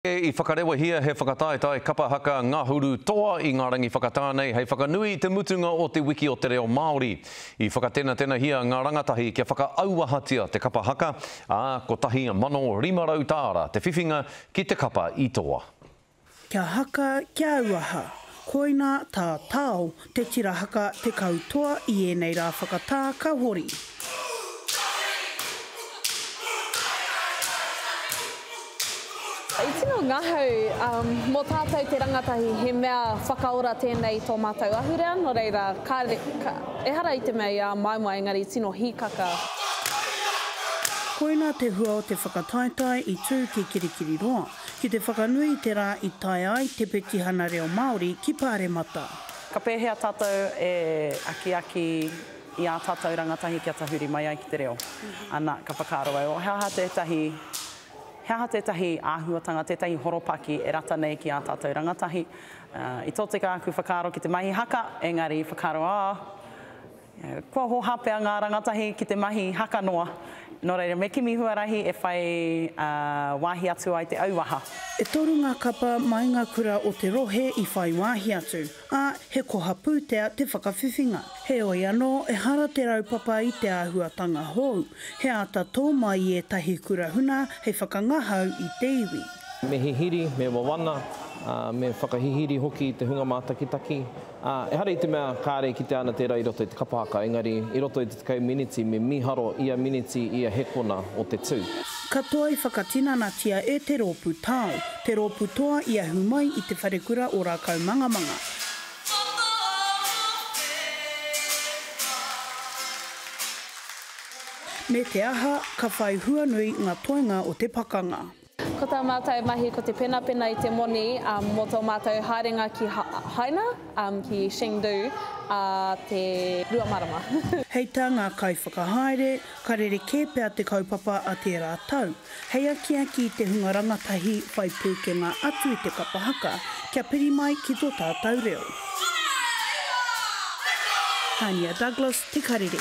I whakarewahia he whakataetae kapa haka ngahuru toa i ngā rangi whakatā nei hei whakanui i te mutunga o Te Wiki o te Reo Māori. I whakatenatenahia ngā rangatahi kia whakaauahatia te kapa haka, ā, 1,500 tāra te whiwhinga ki te kapa i toa. Kia haka, kia auaha, koina tā Tao Te Tira Haka, Te Kautoa, i ēnei rā whakatā ka hori. I tino ngahau mō tātou te rangatahi he mea whakaora tēnei i tō mātou ahurea, nō reira, kāre, ehara i te mea i āmaimai, engari tino hīkaka. Koina te hua o te whakataetae i tū ki Kirikiriroa. Ki te whakanui i te rā i tae ai te petihana reo Māori ki Pāremata. Ka pēhea tātou e akiaki i ā tātou rangatahi kia tahuri mai ai ki te reo? Anā, ka whakaaro au, he aha tētahi, he aha tētahi āhuatanga, tētahi horopaki e rata nei ki ā tātou rangatahi? I tōtika aku whakaaro ki te mahi haka, engari i whakaaro, oh, Kua hoha pea ngā rangatahi ki te mahi haka noa, nō reira me kimi huarahi e whai wāhi atu ai te auaha. E toru ngā kapa mai ngā kura o te rohe i whai wāhi atu, ā, he koha pūtea te whakawhiwhinga. Heoi anō, ehara te raupapa i te āhuatanga hou, he āta tō mai i ētahi kura huna hei whakangahau i te iwi. Me hihiri, me wawana, me whakahihiri hoki i te hunga mātakitaki, Ā, ehara i te mea kāre e kitea ana tērā i roto i te kapa haka, engari i roto i te tekau miniti me mīharo ia miniti ia he kona o te tū. Katoa i whakatinanatia e te rōpū tao, te rōpū toa i ahu mai i Te Wharekura o Rākaumangamanga. Me te aha, ka whai hua nui ngā toenga o te pakanga. Ko tā mātou mahi ko te penapena i te moni mō tō mātou haerenga ki Haina, ki Chengdu, ā te rua marama. Hei tā ngā kaiwhakahaere, ka rerekē pea te kaupapa a tērā tau, hei akiaki i te hunga rangatahi whai pūkenga atu i te kapa haka, kia piri mai ki tō tātou reo. Haina Douglas, Te Karere.